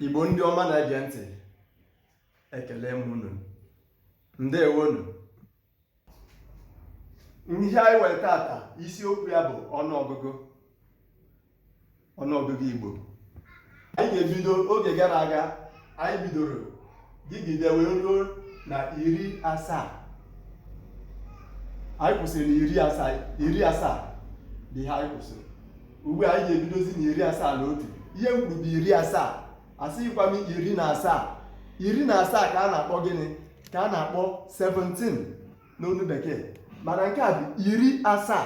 igbo ndị ọma na-ege ntị ekele m unu ndewonu ihe anyị were tata isiokwu ya bụ ọnụọgụgụ ọnụọgụgụ igbo anyị ga-ebido oge gara aga anyị bidoro gụgide wee ruo na iri asaa anyị kwụsịrị na iri asaa iri asaa bụ ihe anyị kwụsịrị ugbu a anyị ga-ebidozi na iri asaa na otu ihe m kwuru bụ iri asaa asịghịkwa m iri na asaa iri na asaa ka a na-akpọ gịnị ka a na-akpọ 17 n'olu bekee mana nke a bụ iri asaa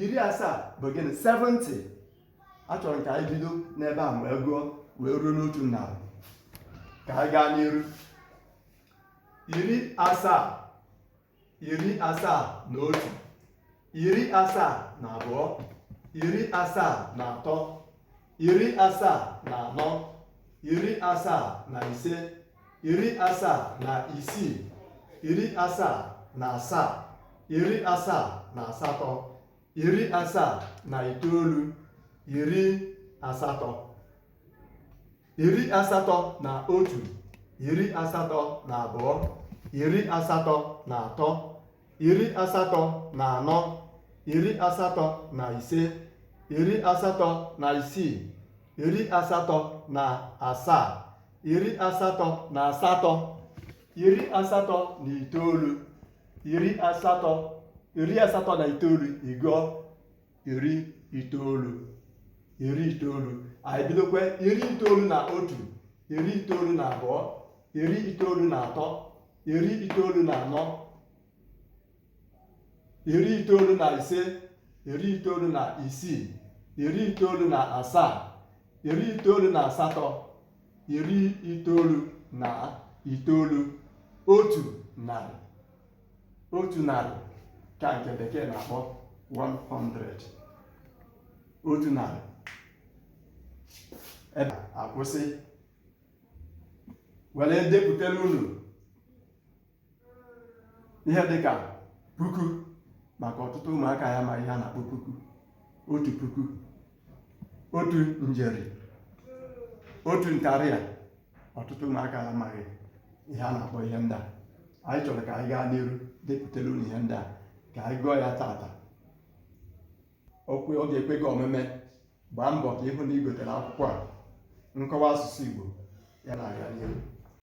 iri asaa bụ gịnị 70 achọrọ m ka anyị bido n'ebe a wee gụọ wee ruo n'otu narị ka anyị gaa n'iru iri asaa iri asaa na otu iri asaa na abụọ iri asaa na atọ iri asaa na anọ iri asaa na ise iri asaa na isii iri asaa na asaa iri asaa na asatọ iri asaa na itoolu iri asatọ iri asatọ na otu iri asatọ na abụọ iri asatọ na atọ iri asatọ na anọ iri asatọ na ise iri asatọ na isii iri asatọ na asaa iri asatọ na asatọ iri asatọ na itoolu iri asatọ iri asatọ na itoolu ị gụọ iri itoolu iri itoolu anyị bidokwa iri itoolu na otu iri itoolu na abụọ iri itoolu na atọ iri itoolu na anọ iri itoolu na ise iri itoolu na isii iri itoolu na asaa iri itoolu na asatọ iri itoolu na itoolu otu narị otu narị ka nke bekee na-akpọ 100 otu narị ebe akwụsị were depụtara unu ihe dịka puku maka ọtụtụ ụmụaka ya ma ihe a na-akpọ puku otu puku otu njeri otu ntarịa ọtụtụ ụmụaka amaghị ihe a na-akpọ ihe ndị a anyị chọrọ ka anyị gaa n'iru depụtara unu ihe ndị a ka anyị gụọ ya tata ọ kwe ọ ga-ekwe gị omume gbaa mbọ ka ị hụ na ị gotere akwụkwọ a nkọwa asụsụ Igbo ya na-aga n'iru